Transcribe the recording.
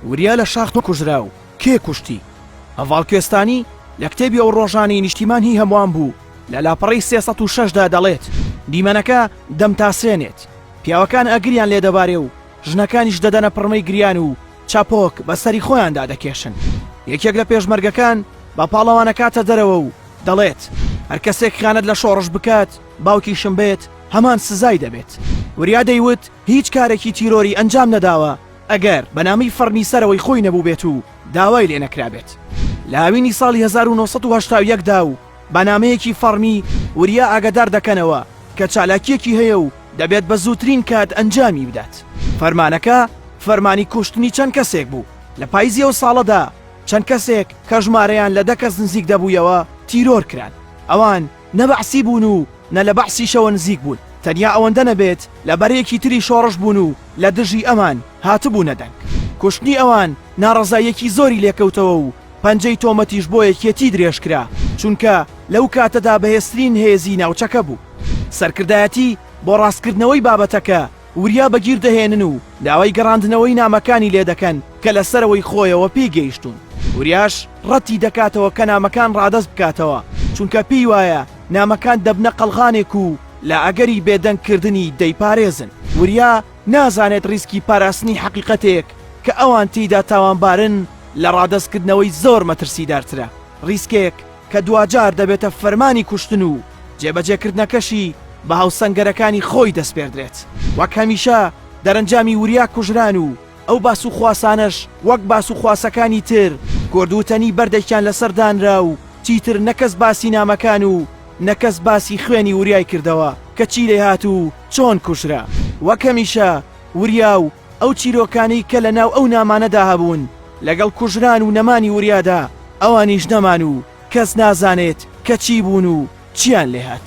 وریا لە شاخ کوژرا و کێ کوشتی؟ هەڤاڵ کوێستانی لە کتێبی ئەو ڕۆژانەی نیشتیمان هی هەمووان بوو لە لاپەڕەی سێ سەد و شەش دا دەڵێت، دیمەنەکە دەمتاسێنێت، پیاوەکان ئەگریان لێ دەبارێ و ژنەکانیش دەدەنە پڕمەی گریان و چەپۆک بە سەری خۆیاندا دەکێشن. یەکێک لە پێشمەرگەکان بە پاڵەوان ئەکاتە دەرەوە و دەڵێت، هەر کەسێک خیانەت لە شۆڕش بکات، باوکیشم بێت، هەمان سزای دەبێت. وریا دەیوت، هیچ کارێکی تیرۆری ئەنجام نەداوە ئەگەر بە نامی فەڕمی سەرەوەی خۆی نەبووبێت و داوای لێ نەکرابێت لە هاوینی ساڵی هەزار و نۆ سەد و هەشتا و یەک دا و بە نامەیەکی فەڕمی وریا ئاگەدار دەکەنەوە کە چالاکییەکی هەیە و دەبێت بە زووترین کات ئەنجامی بدات. فەرمانەکە فەرمانی کوشتنی چەند کەسێک بوو، لە پایزی ئەو ساڵەدا چەند کەسێک کە ژمارەیان لە دە کەس نزیک دەبوویەوە تیرۆر کران، ئەوان، نە بەعسی بوون و نە لە بەعسیشەوە نزیک بوون، تەنیا ئەوەندە نەبێت لە بەرەیەکی تری شۆڕش بوون و لە دژی ئەمان هاتبوونە دەنگ. کوشتنی ئەوان ناڕەزاییەکی زۆری لێکەوتەوە و پەنجەی تۆمەتیش بۆ یەکێتی درێژ کرا، چونکە لەو کاتەدا بەهێزترین هێزی ناوچەکە بوو. سەرکردایەتی بۆ ڕاستکردنەوەی بابەتەکە وریا بەگیر دەهێنن و داوای گەڕاندنەوەی نامەکانی لێ دەکەن کە لە سەرەوەی خۆیەوە پێی گەیشتوون، وریاش ڕەتی دەکاتەوە کە نامەکان ڕادەست بکاتەوە، چونکە پێی وایە نامەکان دەبنە قەڵغانێک و لە ئەگەری بێدەنگ کردنی دەیپارێزن، وریا نازانێت ڕیسکی پاراستنی حەقیقەتێک کە ئەوان تێیدا تاوانبارن لە ڕادەست کردنەوەی زۆر مەترسیدارترە، ڕیسکێک کە دواجار دەبێتە فەرمانی کوشتن و جێبەجێکردنەکەشی بە هاوسەنگەرەکانی خۆی دەسپێردرێت. وەک هەمیشە دەرەنجامی وریا کوژران و ئەو باس و خواسانەش وەک باس و خواسەکانی تر کورد وتەنی بەردێکیان لەسەر دانرا و چیتر نە کەس باسی نامەکان و نە کەس باسی خوێنی وریای کردەوە کە چی لێهات و چۆن کوژرا. وەک هەمیشە وریا و ئەو چیرۆکانەی کە لە ناو ئەو نامانەدا هەبوون لەگەڵ کوژران و نەمانی وریادا ئەوانیش نەمان و کەس نازانێت کە چی بوون و چیان لێ هات.